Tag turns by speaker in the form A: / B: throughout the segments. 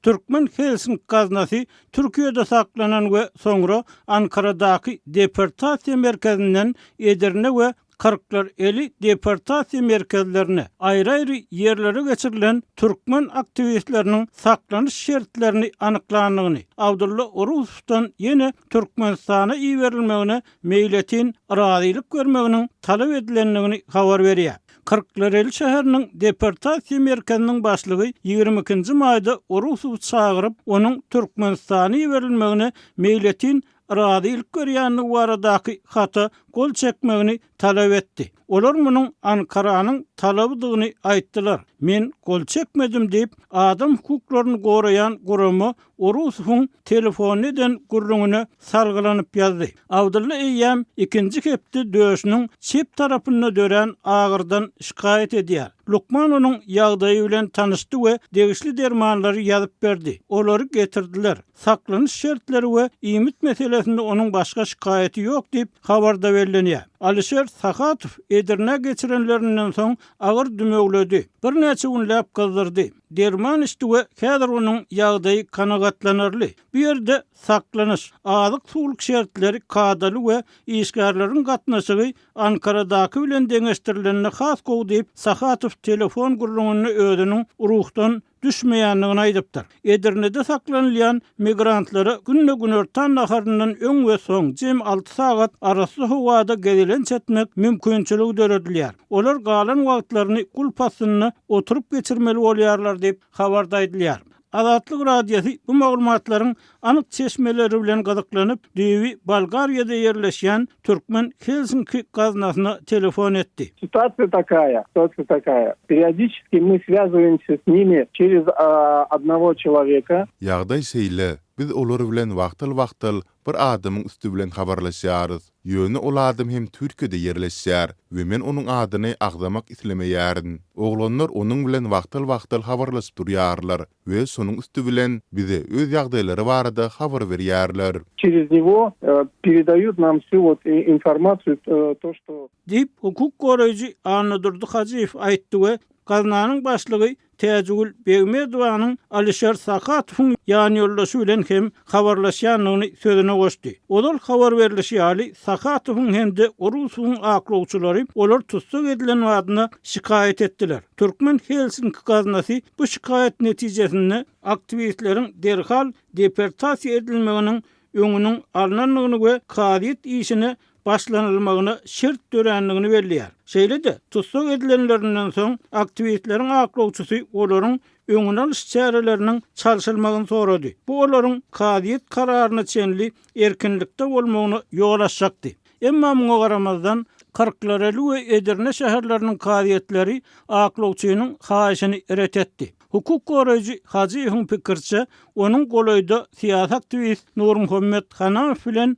A: Türkmen Helsink gaznasy Türkiýede saklanan we soňra Ankaradaky deportasiýa merkezinden Edirne we Kyrklareli deportasiýa merkezlerine, aýry-aýry ýerlere geçirilen türkmen aktiwistleriniň saklanyş şertlerini anyklandygyny, Abdulla Orusowdan ýene Türkmenistana iberilmegine meýletin yrazylyk bermeginiň talap edilendigini habar berýär. Kyrklareli şäheriniň deportasiýa merkeziniň başlygy ýigrimi ikinji maýda Orusowy çagyryp, onuň Türkmenistana iberilmegine meýletin yrazylyk berýändigi baradaky hata gol çekmegini talap etdi. Olar munuň Ankaranyň talabydygyny aýtdylar. Men gol çekmedim diýip, adam hukuklaryny goraýan gurama Orusowyň telefony eden gürrüňine salgylanyp ýazdy. Abdylla eýýäm ikinji hepde döşüniň çep tarapynda dörän agyrdan şikaýat edýär. Lukman onuň ýagdaýy bilen tanyşdy we degişli dermanlary ýazyp berdi. Olary getirdiler. Saklanyş şertleri we iýmit meselesinde onuň başga şikaýaty ýok diýip, habarda bellenýär. Alişer Sahatow Edirnä geçirenlerinden soň agyr dümegledi. Birnäçe günläp gyzdyrdy. Derman içdi we häzir onuň ýagdaýy kanagatlanarly. Bu ýerde saklanyş, azyk-suwluk şertleri kadaly we işgärleriň gatnaşygy Ankaradaky bilen deňeşdirilende has gowy diýip, Sahatow telefon gürrüňinde özüniň ruhdan düşmeýändigini aýdypdyr. Edirnede saklanylýan migrantlara günde günortan naharyndan öň we soň jemi alty sagat arassa howada gezelenç etmek mümkinçiligi döredilýär. Olar galan wagtlaryny gulp astynda oturyp geçirmeli bolýarlar diýip, habarda aýdylýar. Azatlyk Radiosy bu maglumatlaryň anyk çeşmeleri bilen gyzyklanyp, düýbi Bolgariýada ýerleşýän türkmen Helsinki gaznasyna telefon etdi. Sitasiýa takaýa, sitasiýa takaýa. Periodiçeskiý my swýazowimsy s nimi çerez a odnowo çeloweka. Ýagdaý şeýle, biz olar bilen wagtal-wagtal Bir adamyň üsti bilen habarlaşýarys. Ýöne ol adam hem Türkiýede ýerleşýär we men onuň adyny agzamak islemeýärin. Oglanlar onuň bilen wagtal-wagtal habarlaşyp durýarlar we şonuň üsti bilen bize öz ýagdaýlary barada habar berýärler. Çerez nigo peredaýut nam wsýu wot informasiýu to što. Diýip, hukuk goraýjy Annadurdy Hajyýew aýtdy we gaznanyň başlygy Täjigül Begmedowanyň Alişer Sakatowyň ýanýoldaşy bilen hem habarlaşýandygyny sözüne goşdy. Ozal habar berlişi ýaly, Sakatowyň hem-de Urusowyň aklawçylary olar tussag edilen badyna şikaýat etdiler. Türkmen Helsinki gaznasy bu şikaýat netijesinde aktiwistleriň derhal deportasiýa edilmeginiň öňüniň alnandygyny we kazyýet işine başlanylmagyna şert dörändigini belleýär. Şeýle-de, tussag edilenlerinden soň, aktiwistleriň aklawçysy olaryň öňüni alyş çäreleriniň çalşylmagyny sorady. Bu olaryň kazyýet kararyna çenli erkinlikde bolmagyna ýol açjakdy. Emma muňa garamazdan, Kyrklareli we Edirne şäherleriniň kazyýetleri aklawçynyň haýyşyny ret etdi. Hukuk goraýjy Hajyýewiň pikiriçe, onuň golaýda syýasy aktiwist Nurmuhammet Hanamow bilen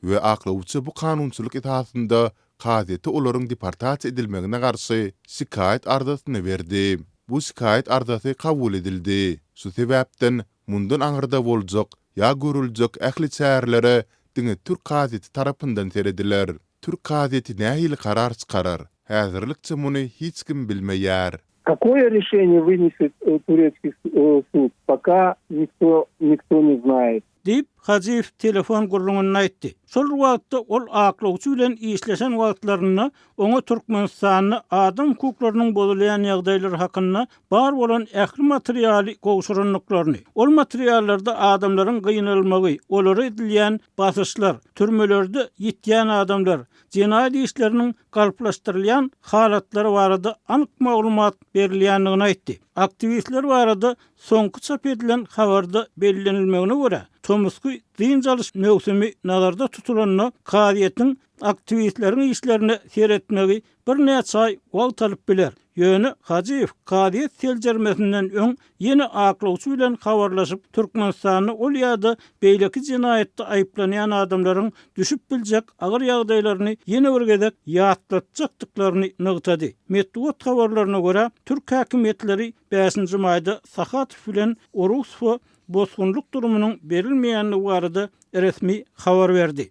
A: we aklawçy bu kanunçylyk esasynda kazyýete olaryň deportasiýa edilmegine garşy şikaýat arzasyny berdi. Bu şikaýat arzasy kabul edildi. Şu sebäpden, mundan aňyrda boljak ýa görüljek ähli çärelere diňe türk kazyýeti tarapyndan serediler. Türk kazyýeti nähili karar çykarar, häzirlikçe muny hiç kim bilmeýär. Kakoýe rişeniýe wyneset turetskiý sud, poka nikto nikto ne znaýet. Diýip, Hajyýew telefon gürrüňinde aýtdy. Şol wagtda ol aklawçy bilen işleşen wagtlarynda oňa Türkmenistanda adam hukuklarynyň bozulýan ýagdaýlary hakynda bar bolan ähli materialy gowşurandyklaryny, ol materiallarda adamlaryň gynalmagy, olara edilýän basyşlar, türmelerde ýitýän adamlar, jenaýat işleriniň galplaşdyrylýan halatlary barada anyk maglumat berilýändigini aýtdy. Aktiwistler barada Soňky çap edilen habarda bellenilmegine görä, tomusky dynç alyş möwsümi nazarda tutulanda, kazyýetiň aktiwistleriň işlerine seretmegi birnäçe aý wagt alyp biler. Ýöne Hajyýew kazyýet seljermesinden öň ýene aklawçy bilen habarlaşyp, Türkmenistanda ol ýa-da beýleki jenaýatda aýyplanýan adamlaryň düşüp biljek agyr ýagdaýlaryny ýene bir gezek ýatlatjakdyklaryny nygtady. Metbugat habarlaryna görä, türk häkimiýetleri Bäşinji maýda Sahatow bilen Orussowa bosgunlyk durumynyň berilmeýändigi barada resmi habar berdi.